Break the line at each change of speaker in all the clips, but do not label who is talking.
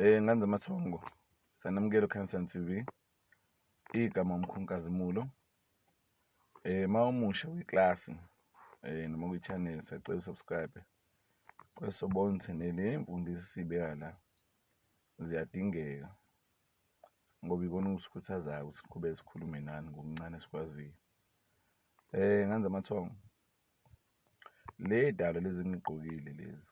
Eh nganze amathongo sanamukelo Cancer TV igama umkhunkazimulo eh mawumusha kwiklasi eh noma kwichannel sacela subscribe kwesobonse nele mfundisi sibeka la ziyadingeka ngoba ikona ukusikhuthazayo ukuthi siqhubeke sikhulume nani ngokuncane esikwaziyo eh nganze amathongo le dalo lezi ngigqokile lezi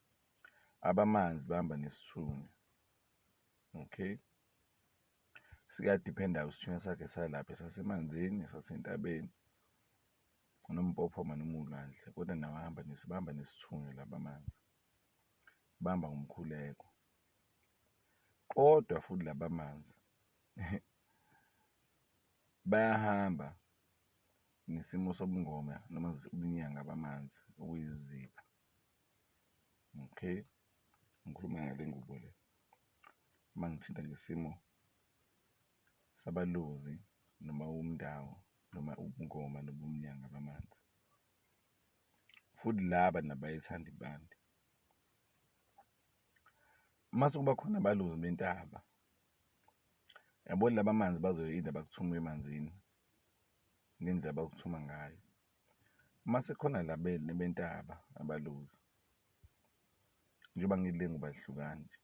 abamanzi bahamba nesithunywa okay siyadiphenda isithunywa sakhe salapha esasemanzini esasentabeni noma umpophoma noma uwulwandle kodwa nawo ahamba bahamba nesithunywa laba manzi bahamba ngomkhuleko kodwa futhi laba manzi bayahamba nesimo sobungoma noma ubunyanga bamanzi okuyizipho Okay, ngikhuluma ngale ngubo le, uma ngithinta ngesimo sabalozi noma umndawo noma ubungoma nobumnyanga bamanzi, futhi laba nabayithanda impande. Uma sekuba khona abalozi bentaba, yabo laba manzi bazoyinda bakuthume emanzini ngendlela abakuthuma ngayo. Mase khona la bentaba abaluzi njengoba ngile ngobahlukani nje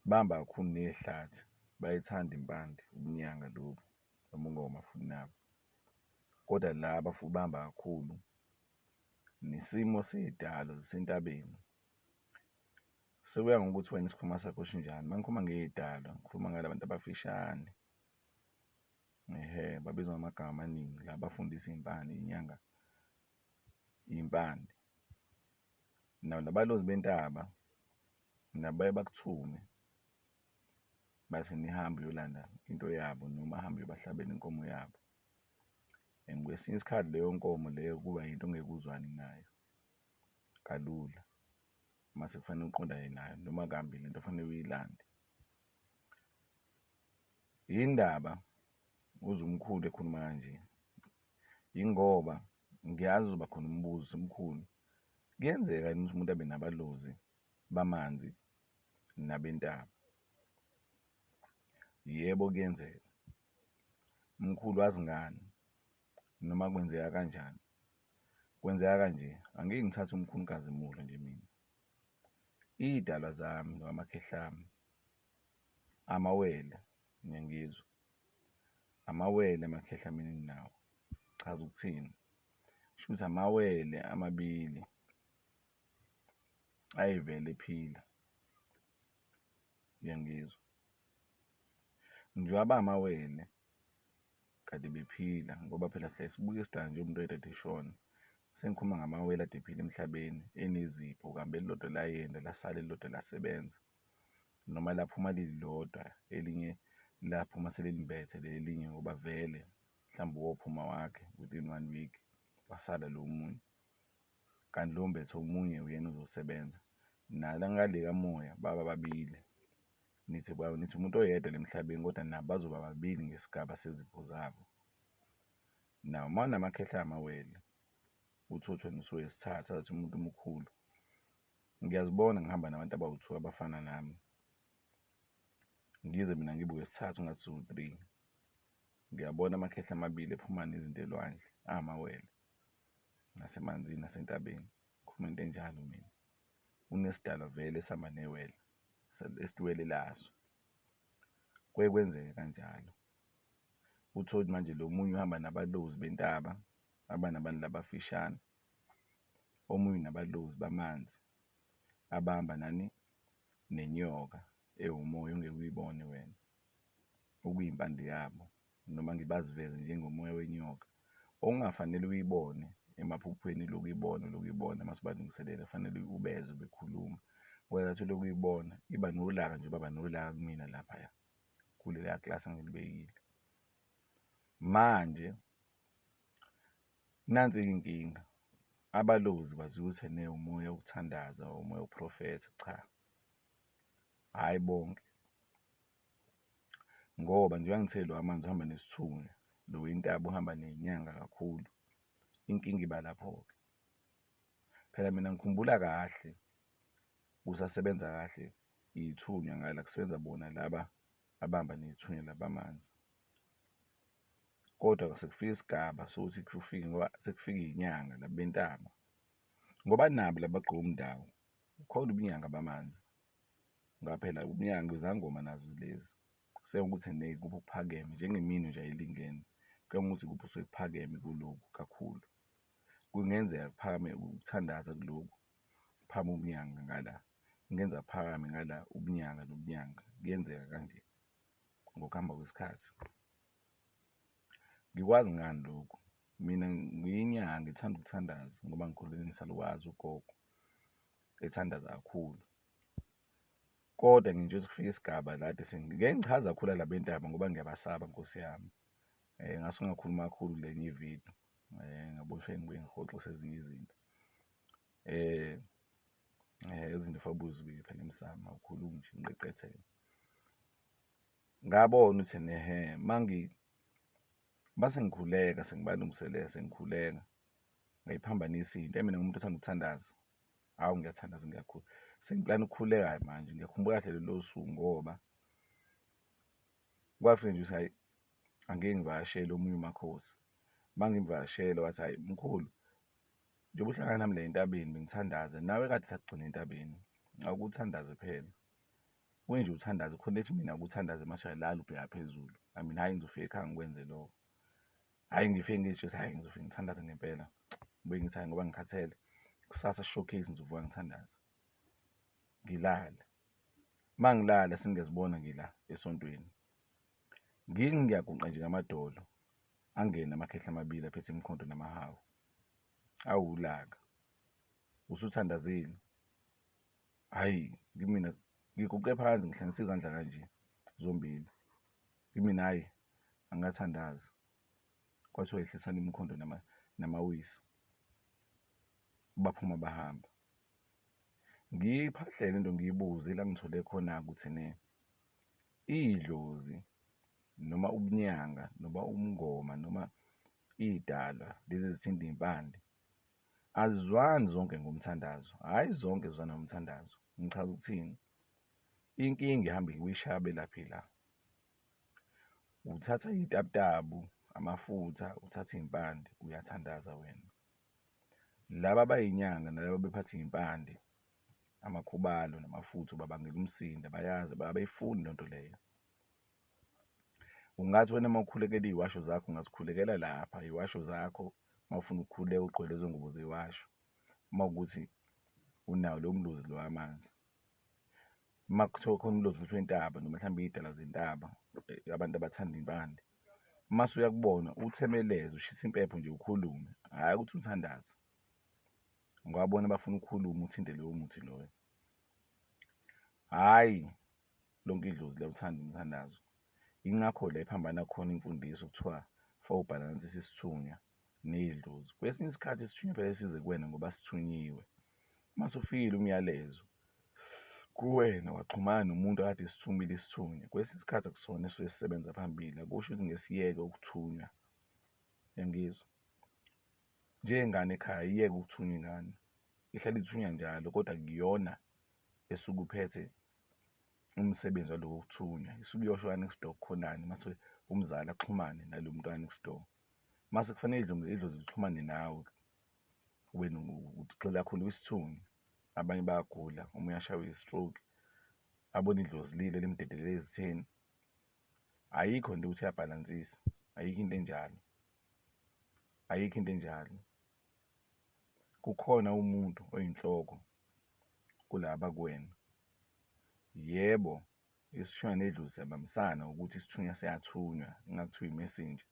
bamba kakhulu nehlathi bayithanda impande ubunyanga lobu nobungoma futhi nabo kodwa laba futhi bamba kakhulu nesimo sey'dalo zisentabeni. Sekuya ngokuthi wena isikhumba sakho sinjani, uma ngikhuluma ngey'dalwa ngikhuluma ngala bantu abafishane Ehhe babizwa ngamagama amaningi la bafundisa iy'mpande, iy'nyanga, iy'mpande. Nabalozi bentaba nabo baye bakuthume bathi nihambe uyolanda into yabo noma ahambe uyobahlabela inkomo yabo and kwesinye isikhathi leyo nkomo leyo kuba yinto ongeke uzwane nayo kalula mase kufanele uqondane nayo noma kambi lento fanele uyilande. Yini ndaba uzwa umkhulu ekhuluma kanje? Yingoba ngiyazi uzoba khona umbuzo ukuthi mkhulu kuyenzeka yini ukuthi umuntu abe nabalozi bamanzi nabentaba? Yebo kuyenzeka. Mkhulu wazi ngani? Noma kwenzeka kanjani? Kwenzeka kanje, angeke ngithathe umkhulu uNkazimulo nje mina. Iy'dalwa zami nokamakhelwane wami, amawele ngiyangizwa, amawele amakhehlameni enginawo chaza ukuthini? Kushuthi amawele amabili ayevele ephila, uyangizwa? Njengoba amawele. kade bephila ngoba phela siyaye sibuke sidale nje umuntu oyedwa kade eshona. Sengikhuluma ngamawele kade ephila emhlabeni enezipho kuhambe elilodwa layenda lasala elilodwa lasebenza noma laphuma lilodwa elinye laphuma selilimbethe leli elinye ngoba vele mhlawumbe uwophuma wakhe within one week wasala lo omunye. Kanti lo ombethe omunye uyena ozosebenza nala ngale kamoya baba babili. Nithi ba nithi umuntu oyedwa la emhlabeni kodwa nabo bazoba babili ngesigaba sezipho zabo. Now uma unamakhehla amawele uthi uthi wena usuwesithathu athi umuntu omkhulu. Ngiyazibona ngihamba nabantu abawu-two abafana nami, ngize mina ngibe wesithathu ngathi siwu-three. Ngiyabona amakhehla amabili ephuma nezinto elwandle angamawele nasemanzini nasentabeni, ngikhuluma into enjalo mina. Unesidalwa vele esihamba newele. esiwele laso. Kuye kwenzeke kanjalo. Uthole ukuthi manje lo munye uhamba nabalozi bentaba, uhamba nabantu laba abafishane. Omunye unabalozi bamanzi abahamba nani? Nenyoka ewumoya ongeke uyibone wena, okuyimpande yabo. noma ngibaziveze njengomoya wenyoka okungafanele uyibone emaphuphweni ulokhu uyibona ulokhu uyibona uma sibalungiselela kufanele ubezwe bekhuluma ngoba ngathi ulokhu uyibona iba nolaka nje baba nolaka kumina laphaya kuleya klasi engilibekile manje nansi inkinga abalozi bazuthe ne umoya wokuthandaza umoya woprofetha cha hhayi bonke ngoba njengoba ngithe lo amanzi uhamba nesithunywa lo wentaba uhamba nenyanga kakhulu, inkinga iba lapho-ke. Phela mina ngikhumbula kahle kusasebenza kahle ithunya ngala kusebenza bona laba abahamba nethunya laba amanzi, kodwa sekufike isigaba sokuthi kufike ngoba sekufike izinyanga laba bentaba ngoba nabo laba abagqoka umndako kukhona ubunyanga bamanzi. ngoba phela umnyango izangoma nazo lezi sekuwukuthi ikuphi okuphakeme njengemino nje ayilingene kuyangokuthi ikuphi okusuke kuphakeme kulokhu kakhulu. Kungenzeka kuphakame ukuthandaza kulokhu kuphakame ubunyanga ngala, kungenzeka kuphakame ngala ubunyanga nobunyanga kuyenzeka kanje ngokuhamba kwesikhathi. Ngikwazi ngani lokhu? Mina ngiyinyanga ngithanda ukuthandaza ngoba ngikhulele ngisalukwazi ugogo ethandaza kakhulu kodwa nje ukuthi kufike isigaba la ethi ngeke ngichaze kakhulu la bentaba ngoba ngiyabasaba nkosi yami um ngase ungakhuluma kakhulu kule enye ividiyo um eh, ngabona ukuthi ngibuye ngihoxise ezinye izinto um izinto fabuzibile phela emsamo awukhulumi nje ngiqeqethele ngabona ukuthi nehe mangi mase ngikhuleka sengibalungiselela sengikhuleka ngayiphambanisa into mina ngumuntu othanda ukuthandaza Hawu ngiyathandaza ngiyakhula, sengiplana ukukhuleka-ke manje ngiyakhumbula kahle lolo suku ngoba kwafika nje ukuthi hhayi angike ngivakashele omunye uMakhosi, mangimvakashele wathi, hhayi mkhulu njengoba uhlangana nami la entabeni bengithandaza nawe kade sakugcina entabeni awukuthandaze phela, kuye nje uthandaze khona ethi mina akuthandaze mase uyalala ubheka phezulu, I mean hhayi ngizofika ekhaya ngikwenze lokho. Hhayi ngifike ngisho ukuthi hhayi ngizofike ngithandaze ngempela. Ngibuye ngithi hhayi ngoba ngikhathele, kusasa showcase ngizovuka ngithandaze, ngilale. Uma ngilala sengiyazibona ngila esontweni. Ngithi ngiyaguqa nje ngamadolo, angene amakhehla amabili aphethe imikhonto namahawu. Awu ulaka. Usuthandazile? Hhayi kimina ngiguqe phansi ngihlanganise izandla kanje zombili. Kimina hhayi angikathandazi kwathiwa yehlisani imikhondo namawisa baphuma bahamba ngiyiphahlele into ngiyibuze la ngithole khona ukuthi ne idlozi noma ubunyanga noma umngoma noma idalwa lezi ezithinta impande azizwani zonke ngomthandazo hhayi zonke zizwana ngomthandazo ngichaza ukuthini inkinga ihamba iwishaya belaphi la Uthatha iy'tabutabu, amafutha, uthathe iy'mpande uyathandaza wena. Laba abay'nyanga nalaba abaphethe iy'mpande amakhubalo namafutha ubabangela umsindo abayazi abafuni leyo nto leyo. Ungathi wena mawukhulekela iy'washo zakho ungazikhulekela lapha iy'washo zakho mawufuna ukukhuleka ugqoke lezo ngubo zey'washo uma kuwukuthi unawo lowo mluzi lo wamanzi. Uma kuthiwa khona ulozi luthiwa intaba noma mhlawumbe iy'dalwa zentaba abantu abathanda impande. Uma usuya kubona uthemeleze ushise impepho nje ukhulume, hhayi ukuthi uthandaze ngoba bona bafuna ukukhuluma uthinte lowo muthi loyo. Hhayi lonke idlozi liyawuthanda umthandazo. Yingakho la ephambana khona imfundiso kuthiwa for ubhalansise isithunywa nedlozi. Kwesinye isikhathi isithunywa vele size kuwena ngoba sithunyiwe. Uma sufikile umyalezo kuwena waxhumana nomuntu akade esithumile isithunywa. Kwesinye isikhathi akusona esuke sisebenza phambili, akusho ukuthi ngesiyeke ukuthunywa. Uyangizwa? Njengengane ekhaya iyeke ukuthunywa ingane, ihlale ithunywa njalo kodwa kuyona esuke uphethe umsebenzi waloko kuthunywa. Isuke iyosho ka-next door kukhonani mase umzali axhumane nalo muntu ka-next door. mase kufanele idlozi idlozi lixhumane nawe wena ugxila kakhulu kwisithungi abanye bayagula uma uyashaywa i-stroke abone idlozi lile limdedelela ezitheni ayikho nje ukuthi uyabhalansisa ayikho into enjalo ayikho into enjalo kukhona umuntu oyinhloko kulaba kuwena yebo Isithunywa nedlozi siyabambisana ukuthi isithunywa siyathunywa ingabe kuthiwa i-messenger.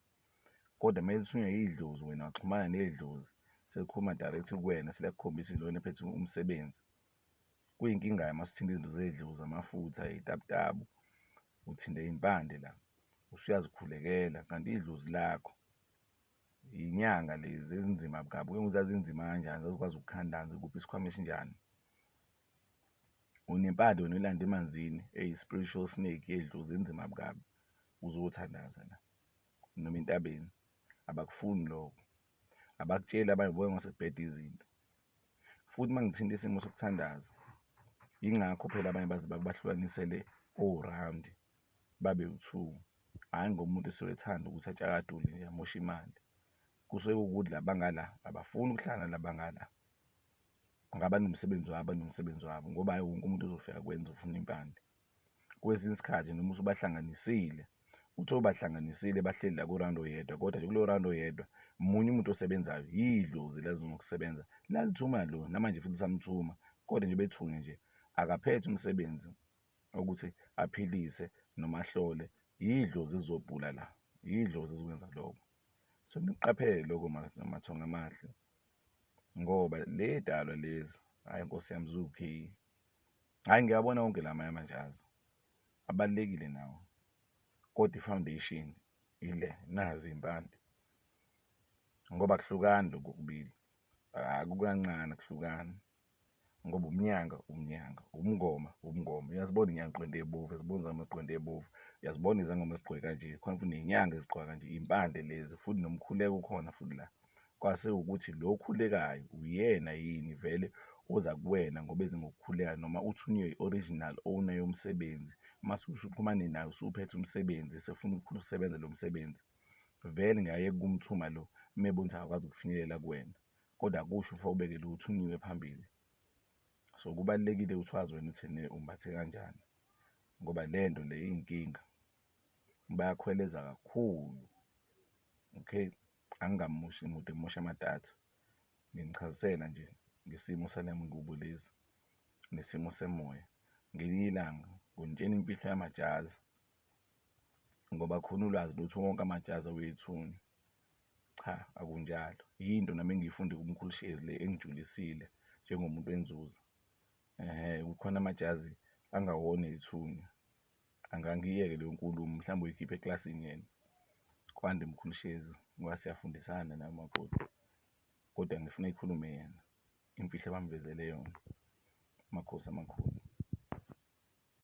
Kodwa uma lithunywa yidlozi wena waxhumana nedlozi selikhuluma direct kuwena seliyakukhombisa lona ephethe umsebenzi. Kuyinkinga-ke uma sithinta izinto zedlozi, amafutha, iy'tabutabu, uthinte impande la usuyazikhulekela kanti idlozi lakho. Yinyanga lezi ezinzima kabi, kuke ngokuthi zazinzima kanjani zazikwazi ukukhandani zikuphe isikhwama esinjani. Unempande wena oyilanda emanzini eyi spiritual snake yedlozi inzima kabi uze uyothandaza la noma entabeni abakufuni lokho abakutsheli abanye ubuya masebheda izinto. Futhi mangithinta isimo sokuthandaza ingakho phela abanye baze bahlukanisele o-round babe wu-two hhayi ngoba umuntu esuke ethanda ukuthi atshakadule nje amoshe imali. Kusuke kuwukuthi la bangala abafuni ukuhlala nala bangala. Abanomsebenzi wabo abanomsebenzi wabo ngoba hhayi wonke umuntu ozofika akwenze ufuna impande. Kwesinye isikhathi noma usubahlanganisile uthole ubahlanganisile bahleli la ku-round oyedwa kodwa nje kulowo round oyedwa munye umuntu osebenzayo yidlozi elazama ukusebenza lalithuma lo namanje futhi lisamthuma kodwa nje bethunge nje akaphethe umsebenzi okuthi aphilise noma ahlole yidlozi elizobhula la, yidlozi ezokwenza loko. So, niqaphele loko mathonga amahle. ngoba ley'dalwa lezi hhayi nkosi yami ziwu-K. Hhayi ngiyawabona wonke la amanye amajazi abalulekile nawo kodwa i-foundation ile nazi iy'mpande ngoba akuhlukani lokhu okubili akukancane akuhlukani. ngoba umnyanga umnyanga, umngoma umngoma. Uyazibona inyanga igqwende ebovu, uyazibona izangoma zigqwende ebovu, uyazibona izangoma zigqoke kanje, khona futhi nenyanga ezigqoka kanje, iy'mpande lezi futhi nomkhuleko ukhona futhi la. Kwase ukuthi lo okhulekayo uyena yini vele oza kuwena ngoba eze ngokukhuleka noma uthunywe i-original owner yomsebenzi, mase usuxhumane naye usuphethe umsebenzi esefuna ukusebenza lo msebenzi, vele ngeke aye kumthuma lo uma ebona ukuthi akakwazi ukufinyelela kuwena. kodwa akusho ufa ubeke lutho unyiwe phambili so kubalulekile ukuthi wazi wena ukuthi ne umbathe kanjani ngoba le nto le iyinkinga bayakhweleza kakhulu okay angingamushi mude mosha amadatha nginichazisela nje ngesimo sale ngubo lezi nesimo semoya ngelinye ilanga ngintshena imfihlo yamajazi ngoba khona ulwazi lutho wonke amajazi awethunywa Cha akunjalo, yinto nami engiyifunde kuMkhulu Shezi le engijulisile njengomuntu enzuza. Kukhona amajazi angawona ethunya, angangiyeke leyo nkulumo mhlawumbe uyikhiphe eklasini yena. Kwande Mkhulu Shezi ngoba siyafundisana naye umakoti, kodwa ngifuna eyikhulume yena imfihlo abamvezele yona. Amakhosi amakhulu.